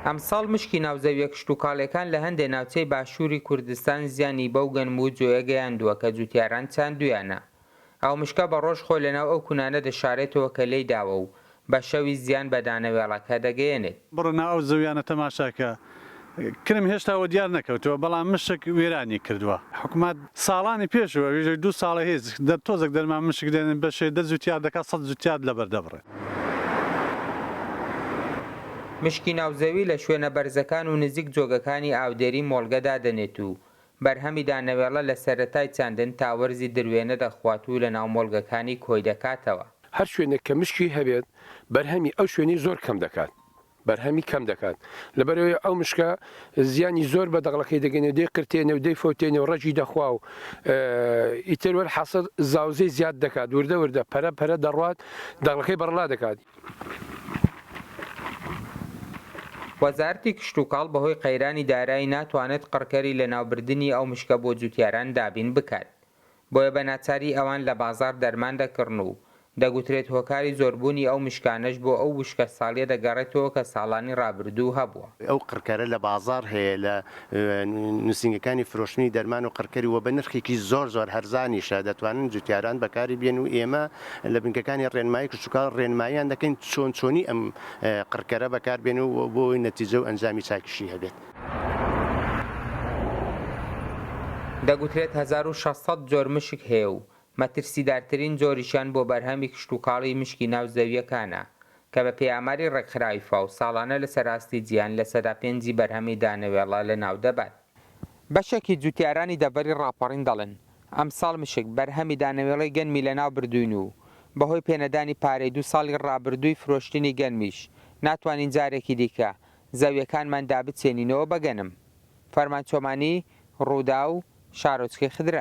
ئەمساڵ مشکی ناو زەویە کشتوکاڵیەکان لە هەندێ ناوچەی باشووری کوردستان زیانی بەو گەنم و جۆیە گەیاندووە کە جوتیاران چاندویانە. ئەو مشکە بە ڕۆژ خۆی لە ناو ئەو کونانە دەشارێتەوە کە لێی داوە و بە شەویش زیان بە دانەوێڵەکە دەگەیەنێت. بڕۆ ناو ئەو زەویانە تەماشاکە کرم هێشتا وەدیار نەکەوتووە، بەڵام مشک وێرانی کردووە. حکومەت ساڵانی پێش و ئەویش دوو ساڵە هیچ، دە تۆزەک دەرمان مشک دێنن بەشێ دە جوتیار دەکات سەد جوتیار لەبەر دەبڕێ. مشکی ناو زەوی لە شوێنە بەرزەکان و نزیک جۆگەکانی ئاودێری مۆڵگە دادەنێت و بەرهەمی دانەوێڵە لە سەرەتای چاندن تا وەرزی دروێنە دەخوات و لەناو مۆڵگەکانی کۆی دەکاتەوە. هەر شوێنێک کە مشکی هەبێت بەرهەمی ئەو شوێنەی زۆر کەم دەکات. بەرهەمی کەم دەکات لەبەرئەوەی ئەو مشکە زیانی زۆر بە دەغڵەکەی دەگەنێ و دەی قرتێنێ و دەی فەوتێنێ و ڕەگی دەخوا و ئیتر وەل حەسر زاوزێ زیاد دەکات وردە وردە پەرە پەرە دەڕوات دەغڵەکەی بەڕڵا دەکات. وەزارتی کشتوکاڵ بەهۆی قەیرانی دارایی ناتوانێت قڕکەری لەناوبردنی ئەو مشکە بۆ جوتیاران دابین بکات بۆیە بە ناچاری ئەوان لە بازاڕ دەرمان دەکڕن و دەگوترێت هۆکاری زۆربوونی ئەو مشکانەش بۆ ئەو وشکە ساڵیە دەگەڕێتەوە کە ساڵانی ڕابردوو هەبووە. ئەو قڕکەرە لە بازاڕ هەیە لە نووسینگەکانی فرۆشتنی دەرمان و قڕکەری و بە نرخێکی زۆر زۆر هەرزانیشە دەتوانن جوتیاران بەکاری بێن و ئێمە لە بنکەکانی ڕێنمایی کشتوکاڵ ڕێنماییان دەکەین چۆن چۆنی ئەم قڕکەرە بەکاربێنن و بۆ ئەوەی نەتیجە و ئەنجامی چاکیشی هەبێت. دەگوترێت هەزار و شەش سەد جۆر مشک هەیە و مەترسیدارترین جۆریشیان بۆ بەرهەمی کشتوکاڵی مشکی ناو زەوییەکانە، کە بەپێی ئاماری ڕێکخراوی فاو ساڵانە لەسەر ئاستی جیهان لە سەدا پێنجی بەرهەمی دانەوێڵە لەناودەبات. بەشێکی جووتیارانی دەڤەری ڕاپەڕین دەڵێن، ئەمساڵ مشک بەرهەمی دانەوێڵەی گەنمی لەناوبردووین و بەهۆی پێنەدانی پارەی دوو ساڵی ڕابردووی فرۆشتنی گەنمیش ناتوانین جارێکی دیکە زەویەکانمان دابچێنینەوە بەگەنم. فەرمان چۆمانی، رووداو، شارۆچکەی خدرە.